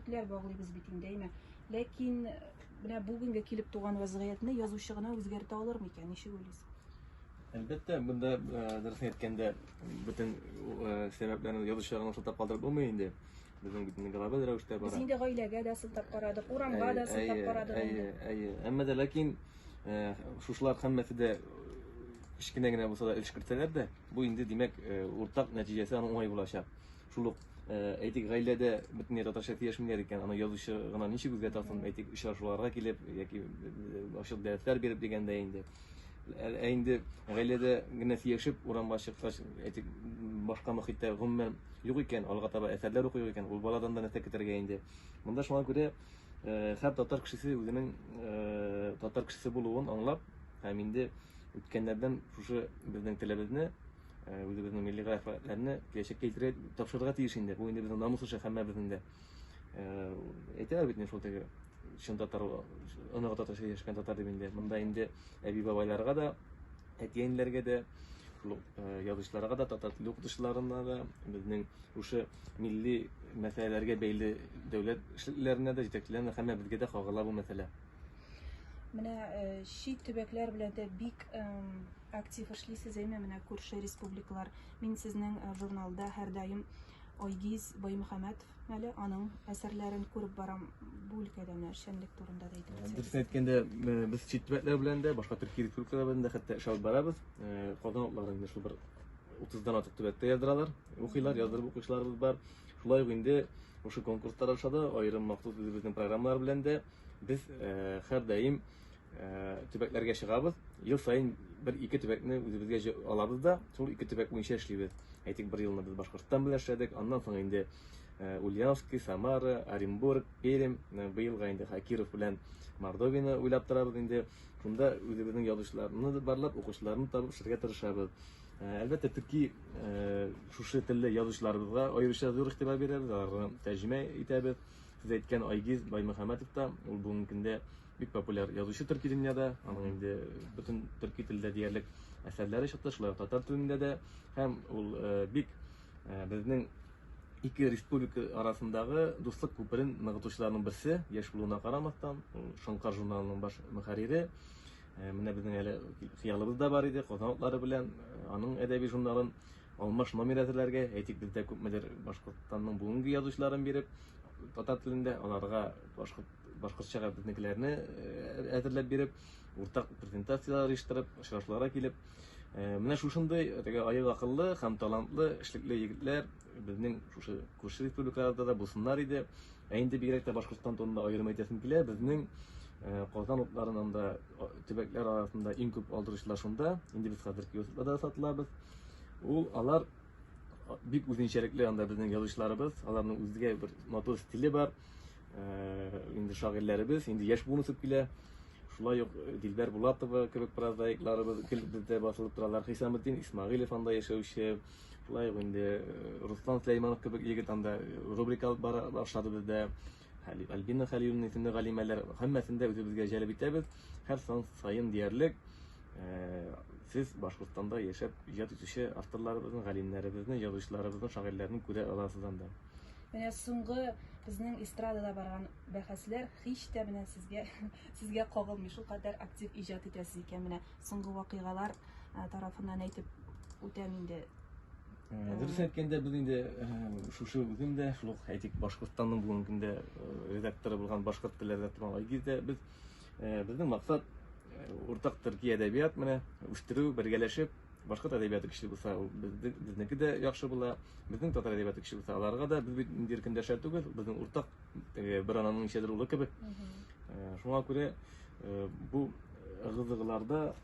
Битләр баглыйбыз бит инде, әйме. Ләкин менә бүгенге килеп туган вазгыятьне язучы гына үзгәртә алыр микән? Ничек уйлыйсыз? Әлбәттә, бында дөресен әйткәндә, бөтен сәбәпләрне язучы гына сылтап калдырып булмый инде. Безнең бит инде глобаль рәвештә бара. Без инде гаиләгә дә сылтап карадык, урамга да сылтап карадык. Әйе, әйе. Әмма дә ләкин шушылар һәммәсе дә кечкенә генә булса да өлеш кертсәләр дә, бу инде димәк уртак нәтиҗәсе аның уңай булачак. Шул ук әйтик, гаиләдә бөтенләй татарча сөйләшмиләр икән, аны язучы гына ничек үзгә тасын, әйтик, очрашуларга килеп яки ачык дәресләр биреп дигәндә инде. Ә инде гаиләдә генә сөйләшеп, урамга чыккач, әйтик, башка мөхиттә гомумән юк икән, алга таба әсәрләр укый икән, ул баладан да нәрсә көтәргә инде. Монда шуңа күрә һәр татар кешесе үзенең татар кешесе булуын аңлап, һәм инде үткәннәрдән шушы безнең телебезне Э, үзебезнең милли графикләрне киләчәккә илтерә тапшырырга тиеш инде бу инде безнең намус эше һәммәбезнең дә э, әйтәләр бит шул теге чын татар оныгы татарча яшәгән татар дип инде монда инде әби бабайларга да әти әниләргә дә шул э, язучыларга да татар теле укытучыларына да безнең шушы милли мәсьәләләргә бәйле дәүләт эшлеклеләренә дә җитәкчеләренә һәммәбезгә дә кагыла бу мәсьәлә Менә э, чит төбәкләр белән дә бик актив эшлисез әйме менә күрше республикалар. Мин сезнең э, журналда һәрдаим Айгиз Баймөхәммәтов әле аның әсәрләрен күреп барам бу өлкәдә менә эшчәнлек турында да әйтеп үтсәгез. Дөресен әйткәндә, э, без чит төбәкләр белән дә, башка төрки республикалар белән дә хәтта эш алып барабыз. Э, Казан утлары инде шул бер 30-дан артык төбәктә яздыралар, укыйлар, яздырып укучыларыбыз бар. Шулай ук инде ошо конкурслар аша да, аерым махсус үзебезнең программалар белән дә Без һәрдаим төбәкләргә чыгабыз. Ел саен бер ике төбәкне үзебезгә алабыз да, шул ике төбәк буенча эшлибез. Әйтик, бер елны без Башкортстан белән эшләдек, аннан соң инде Ульяновский, Самара, Оренбург, Пермь, быелга инде Хакиров белән Мордовияне уйлап торабыз инде. Шунда үзебезнең язучыларны барлап, укучыларны табып эшләргә тырышабыз. Әлбәттә, төрки шушы телле язучыларыбызга аеруча зур игътибар бирәбез, аларны тәрҗемә итәбез. Сез әйткән Айгиз Баймөхәммәтов та, ул бүгенге көндә бик популяр язучы төрки дөньяда, аның инде бөтен төрки телдә диярлек әсәрләре чыкты, шулай ук татар телендә дә, һәм ул э, бик э, безнең ике республика арасындагы дуслык күперен ныгытучыларның берсе, яшь булуына карамастан, ул Шоңкар журналының баш мөхәррире. Э, менә безнең әле хыялыбыз да бар иде, Казан белән аның әдәби журналын Алмаш номер әзерләргә, әйтик, бездә күпмедер Башкортстанның бүгенге язучыларын биреп, татар телендә аларга башкорт башкортчага безнекеләрне э, әзерләп биреп, уртак презентацияләр оештырып, очрашуларга килеп, э, менә шушындый теге аек акыллы һәм талантлы, эшлекле егетләр безнең шушы күрше республикаларда да булсыннар иде. Ә инде бигрәк тә Башкортстан турында аерым әйтәсем килә, безнең э, Казан утларының да төбәкләр арасында иң күп алдыручылар шунда. Инде без хәзер киоскта да сатылабыз. Ул алар бик үзенчәлекле анда безнең язучыларыбыз, аларның үзгә бер матур стиле бар. Э, инде шагыйрьләребез, инде яшь буын үсеп килә. Шулай ук э, Дилбәр Булатова кебек прозаикларыбыз гел бездә басылып торалар. Хисаметдин Исмагилев анда яшәүче, шулай ук инде э, Руслан Сулейманов кебек егет анда рубрика алып бара башлады бездә. Альбина Хәлиловна исемле галимәләр һәммәсен дә үзебезгә җәлеп итәбез. Һәр сан саен диярлек э, сез Башкортстанда яшәп иҗат итүче авторларыбызны, галимнәребезне, язучыларыбызны, шагыйрьләрне күрә аласыз анда. Менә соңгы безнең эстрадада барган бәхәсләр һич тә менә сезгә сезгә кагылмый. Шулкадәр актив иҗат итәсез икән. Менә соңгы вакыйгалар э, тарафыннан әйтеп үтәм инде. Э, дөрес әйткәндә без инде э, шушы бүген дә шул ук әйтик башкортстанның бүгенге көндә э, редакторы булган башкорт теле редакторы айгизда без безнең максат уртак төрки әдәбият менә үстерү бергәләшеп башкорт әдәбияты көчле булса безнеке дә яхшы була безнең татар әдәбияты көчле булса аларга да без бит инде иркендәшә түгел безнең уртак бер ананың ничәдер улы кебек шуңа күрә бу ыгы-зыгыларда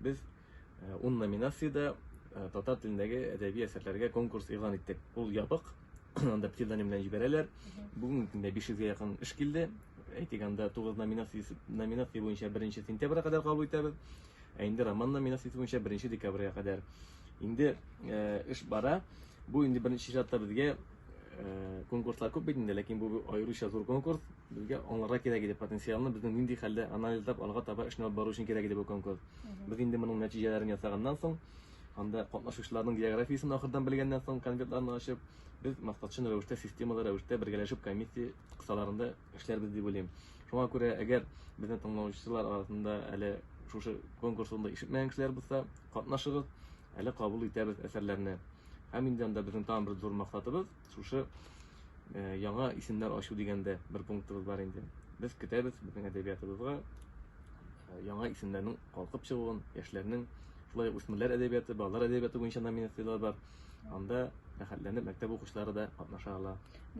Без ун номинациядә татар телендәге әдәби әсәрләргә конкурс игълан иттек. Ул ябык, анда псевдоним белән җибәрәләр. Бүгенге көндә 500-гә якын эш килде. Әйтик, анда 9 номинация, номинация буенча 1 сентябрьгә кадәр кабул итәбез. Ә инде роман номинациясе буенча 1 декабрьгә кадәр. Инде э, эш бара. Бу инде беренче чиратта безгә э, конкурслар күп бит инде, ләкин бу аеруча зур конкурс. Безгә аңларга кирәк иде, потенциалны безнең нинди хәлдә, анализлап, алга таба эшне алып бару өчен кирәк иде бу конкурс. Без инде моның нәтиҗәләрен ясаганнан соң, анда катнашучыларның географиясен ахырдан белгәннән соң, конвертларны ачып, без максатчын рәвештә, системалы рәвештә бергәләшеп комиссия кысаларында эшләрбез дип уйлыйм. Шуңа күрә, әгәр безне тыңлаучылар арасында әле шушы конкурс турында ишетмәгән кешеләр булса, катнашыгыз, әле кабул итәбез әсәрләрне. Һәм инде анда безнең тагын бер зур максатыбыз, Шушы э, яңа исемнәр ачу дигәндә бер пунктыбыз бар инде. Без көтәбез безнең әдәбиятыбызга э, яңа исемнәрнең калкып чыгуын, яшьләрнең шулай үсмерләр әдәбияты, балалар әдәбияты буенча номинацияләр бар. Анда рәхәтләнеп мәктәп укучылары да катнаша ала.